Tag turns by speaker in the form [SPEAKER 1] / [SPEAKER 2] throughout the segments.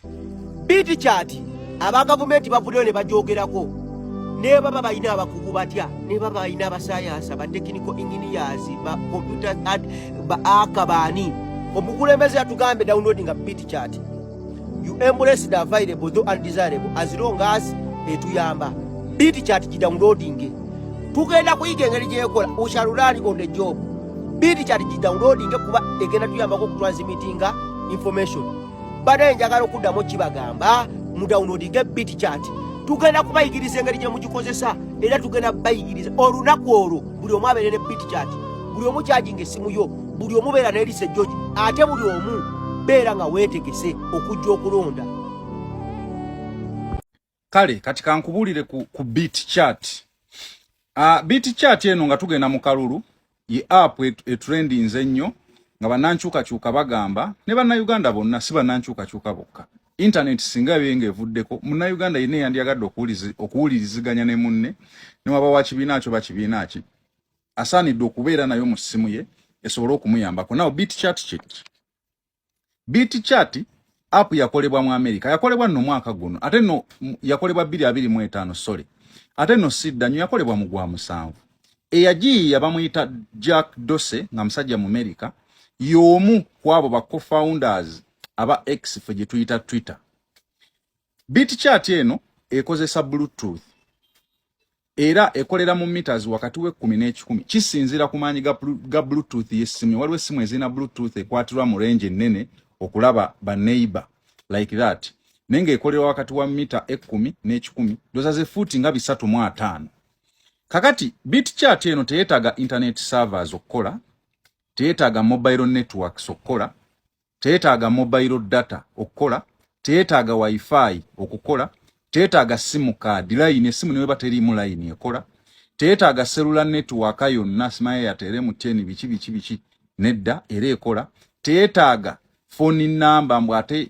[SPEAKER 1] Biiti kyati aba gavumenti bavuddeyo ne bagyogerako ne baba balina abakugu batya ne baba balina abasayansa ba technical engineers ba computer ad ba aka baani omukulembeze yatugambye download nga biiti kyati you embrace the available though undesirable as long as etuyamba biiti kyati gidownloadinge tugenda kuyiga engeri gyekola usharulani on the job biiti kyati gidownloadinge kuba egenda tuyambako okutransmitinga information bade njagala okuddamu kibagamba mu downloadinge bit chat tugenda kubayigiriza engeri gye mugikozesa era tugenda bayigiriza olunaku olwo buli omu abeere ne bit chat buli omu kyajinga essimu yo buli omu beera nelise george ate buli omu beera nga weetegese okujja okulonda
[SPEAKER 2] kale kati kankubulire ku, ku beat chat uh, beat chat eno nga tugenda mu kalulu ye app etrendinze et ennyo nga banankyukakyuka bagamba ne bannayuganda bonna si banankyukakyuka bokka internet singa byenga evuddeko munnayuganda yenna eyandyagadde okuwuliriziganya ne munne newaba wa kibiina kyo bakibiina ki asaanidde okubeera nayo mu ssimu ye esobole okumuyambako naw bit chat kit Beat chat app yakolebwa mu America, yakolebwa no mwaka guno, ate no yakolebwa 2025 sorry, ate no sidda nyo yakolebwa mu gwa musanvu. Eyagiyiya bamuyita Jack Dorsey nga musajja mu America, y'omu kwabo ba co-founders aba X fe gye tuyita Twitter. Beat chat eno ekozesa Bluetooth era ekolera mu meters wakati w'ekkumi n'ekikumi kisinziira ku maanyi ga bluetooth y'essimu waliwo essimu ezirina bluetooth ekwatirwa mu range ennene okulaba baneighbor like that naye ng'ekolerwa wakati wa mita ekkumi n'ekikumi doza ze fuuti nga bisatu mu ataano kakati bit chat eno teyeetaaga internet servers okukola teyeetaaga mobile networks okukola teyetaaga mobile data okukola teyetaaga wifi okukola teyetaaga simu card line esimu neweba teriimu line ekola teyetaaga cellular network yonna simaye yatere mu teni biki biki biki nedda era ekola teyetaaga phone number mbu ate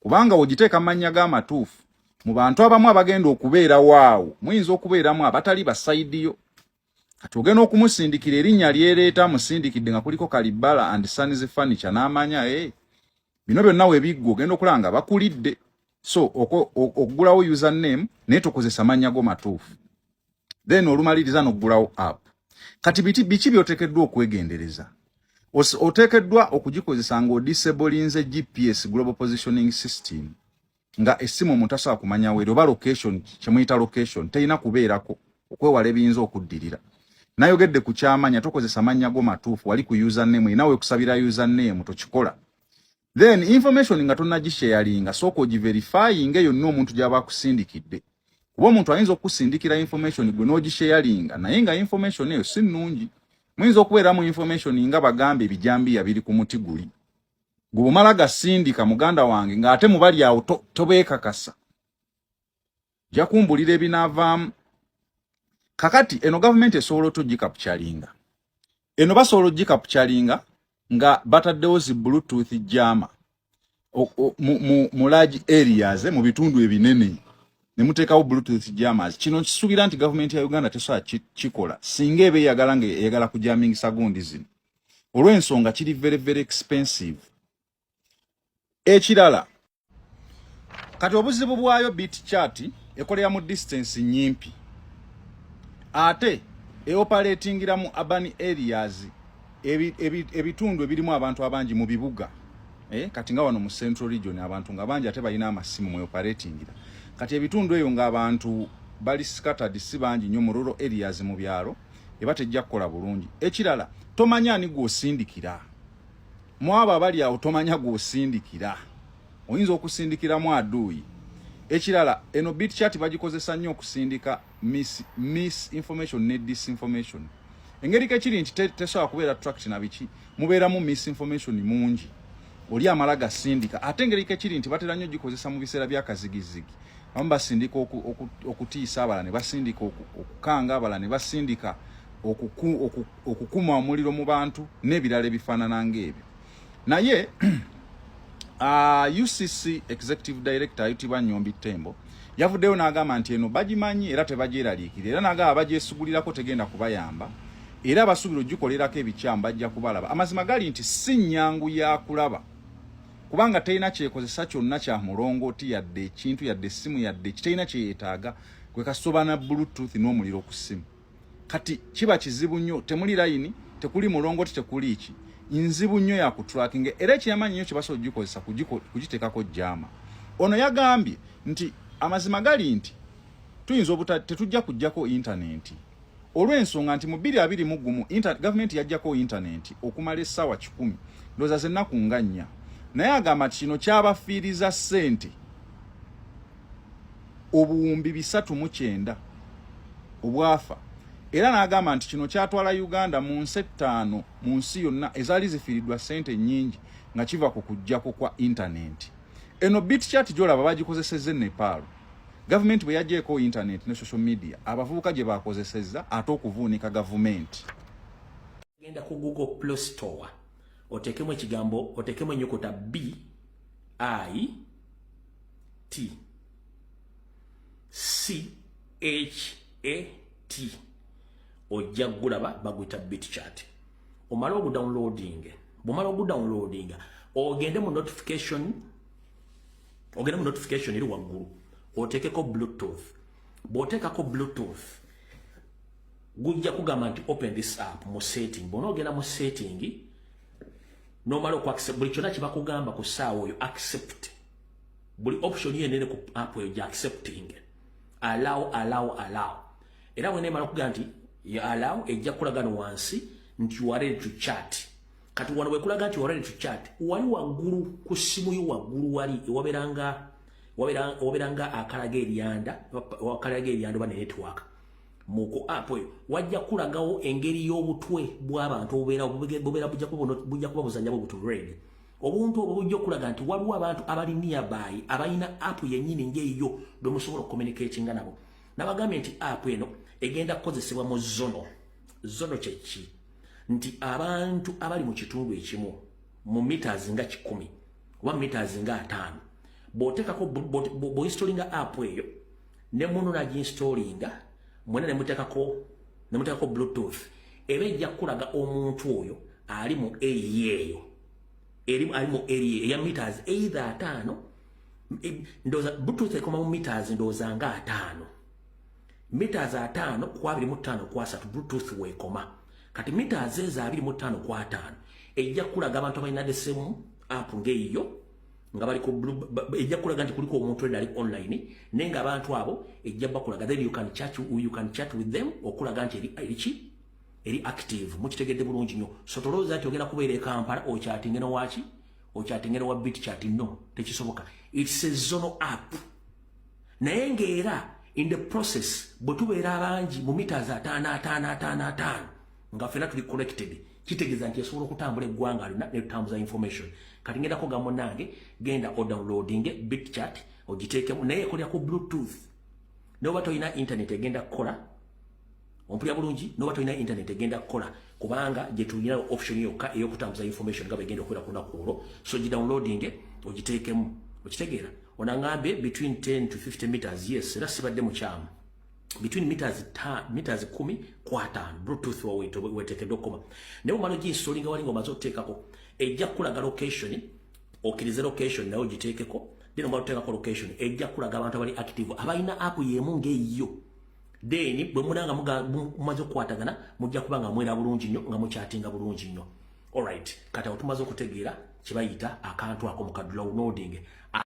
[SPEAKER 2] kubanga wogiteeka mannya ga matuufu mu bantu abamu abagenda okubeera waawo muyinza okubeeramu abatali basaidiyo kati ogenda okumusindikira erinnya lyereeta amusindikidde nga kuliko kalibbala and sons furniture n'amanya e eh, bino byonna webiggwa ogenda okulaba nga bakulidde so okugulawo user name naye tokozesa mannya go matuufu then olumaliriza noggulawo app kati biti biki byotekeddwa okwegendereza otekeddwa okugikozesa nga odisebolinze gps global positioning system nga essimu omuntu asobola kumanya weeri oba location kyemuyita location terina kubeerako okwewala ebiyinza okuddirira nayogedde ku kyamanya tokozesa mannya go matuufu wali ku username inawe okusabira username tokikola then information nga tonagisharinga sooka ogiverifyinga eyo nno omuntu gyaba akusindikidde kuba omuntu ayinza okusindikira information gwe nogisharinga naye nga information eyo si nnungi muyinza okubeeramu information nga bagamba ebijambiya biri ku muti guli gwe bumala gasindika muganda wange ng'ate mubali awo tobeekakasa to nja kumbulira ebinaavaamu kakati eno gavumenti esobola otugikapukyalinga eno basobola ogikapukyalinga nga bataddewo zi bluetooth jama mu large areas mu bitundu ebinene ne muteekawo bluetooth jamas kino nkisuubira nti gavumenti ya uganda tesobola kikola singa eba eyagala nga eyagala kujamingisa gundi zino olw'ensonga kiri very very expensive ekirala kati obuzibu bwayo bit chat ekolera mu distance nyimpi ate eoperatingira mu urban areas ebitundu ebirimu abantu abangi mu bibuga eh, kati nga wano mu central region abantu nga bangi ate balina amasimu mu eoperatingira kati ebitundu eyo nga abantu bali scattered si bangi nyo mu rural areas mu byalo eba tejja kukola bulungi ekirala tomanya ani gwosindikira mwabo abali awo tomanya gwosindikira oyinza okusindikiramu aduuyi ekirala eno bit chat bagikozesa nnyo okusindika miss, miss information ne disinformation engeri kekiri nti tesobola kubeera tract na biki mubeeramu miss information mungi oli amala gasindika ate engeri kekiri nti batera nnyo gikozesa mu biseera byakazigizigi abamu basindika okutiisa abala ne basindika okukanga abala ne basindika okuku, okuku okukuma omuliro mu bantu n'ebirala ebifaanana ng'ebyo naye uh, ucc executive director ayitibwa nyombi tembo yavuddeyo n'agamba nti eno bagimanyi era tebagyeraliikira era n'agamba bagyesigulirako tegenda kubayamba era abasuubira ogikolerako ebikyamu bajja kubalaba amazima gali nti si nnyangu yakulaba kubanga terina kyekozesa kyonna kya mulongooti yadde ekintu yadde essimu yadde kitalina kyeyeetaaga kwe kasobana bluetooth n'omuliro ku ssimu kati kiba kizibu nnyo temuli layini tekuli mulongo tekuli ki nzibu nnyo ya kutrakinga era ekyamanyi nnyo kyebasobola okugikozesa kugiteekako jaama ono yagambye nti amazima gali nti tuyinza obuta tetujja kujjako intanenti olw'ensonga nti mu bbiri abiri mu gumu gavumenti yajjako intanenti okumala essaawa kikumi ndooza zennaku nga nnya naye agamba nti kino kyabafiiriza ssente obuwumbi bisatu mu kyenda obwafa era n'agamba nti kino kyatwala uganda mu nsi ettaano mu nsi yonna ezaali zifiiriddwa ssente nnyingi nga kiva ku kujjako kwa intanenti eno bitchat gyolaba bagikozesezza enepaalo gavumenti bwe yagyeeko intanenti ne social media abavubuka gye bakozesezza ate okuvuunika gavumenti
[SPEAKER 3] genda ku google play store otekemu ekigambo otekemu enyukuta b i t c h a t ojja gulaba baguyita bit chat omala ogudownloading bumala ogudownloading ogende mu notification ogende mu notification eri waggulu oteekeko bluetooth bw'oteekako bluetooth gujja kugamba nti open this app mu setting bwona ogenda mu setting nomala oku accept buli kyona kibakugamba ku saawa oyo accept buli option yo enene ku app oyo gya accepting allow allow allow era wena emala okugaa nti ya allow ejja kukulaga no wansi nti you are ready to chat kati wano wekulaga nti you are ready to chat wali waggulu ku simu yo waggulu wali ewaberanga waberanga akalaga eryanda wakalaga eryanda oba ne network muku app oyo wajja kulagawo engeri y'obutwe bw'abantu obubeera bubeera bujja kuba bujja kuba buzanya bwo butu red obuntu obwo bujja okulaga nti waliwo abantu abali nearby abalina app yennyini ng'eyo bwe musobola okukomunikatinga nabo nabagambye nti app eno egenda kukozesebwa mu zono zono kyeki nti abantu abali mu kitundu ekimu mu meters nga kikumi oba meters nga ataano bw'oteekako bw'oinstolinga app eyo ne munu na ginstolinga mwena ne mutekako ne mutekako bluetooth ebe ejja kulaga omuntu oyo ali mu area eyo eri ali mu area ya meters either atano e, ndoza bluetooth ekoma mu meters ndoza nga atano meters atano kwa 25 kwa 3 bluetooth wekoma kati mita azeeza abiri mu ttaano ku ataano ejja kulaga abantu abalina desemu apu ng'eyiyo nga bali ku ejja kulaga nti kuliko omuntu ali online naye nga abantu abo ejja bakulaga then you can chat you can chat with them okulaga nti eri eri ki eri active mukitegedde bulungi nyo so tolooza nti ogenda kubeera e Kampala okyatinge no waki okyatinge no wa bit chat no tekisoboka it's a zone app naye ng'era in the process bwe tubeera abangi mu mita za ataano ataano ataano ataano nga fena tuli connected kitegeza nti esobola okutambula eggwanga alina netutambuza information kati ngendako ga munange genda odownloading bit chat ogiteekemu naye ekolera ku bluetooth noba tolina internet egenda kukola ompulira bulungi noba tolina internet egenda kukola kubanga gyetulina option yokka eyokutambuza information nga bwegenda okubeera kunaku olwo so gidownloading ogiteekemu okitegeera onangambye between 10 to 50 meters yes era sibadde mukyamu between meters ta meters 10 ku 5 bluetooth wa wito weteke dokoma ne umano ji installing wali ngoma zo tekako ejja kulaga location okirize location nayo jitekeko dino mwa tekako location ejja kulaga abantu abali active abaina app yemu nge yo then bwe munanga muga mumaze kwatagana mujja kubanga mwera bulungi nyo nga muchatinga bulungi nyo all right kata otumaze kutegeera kibayita akantu ako mukadula unodinge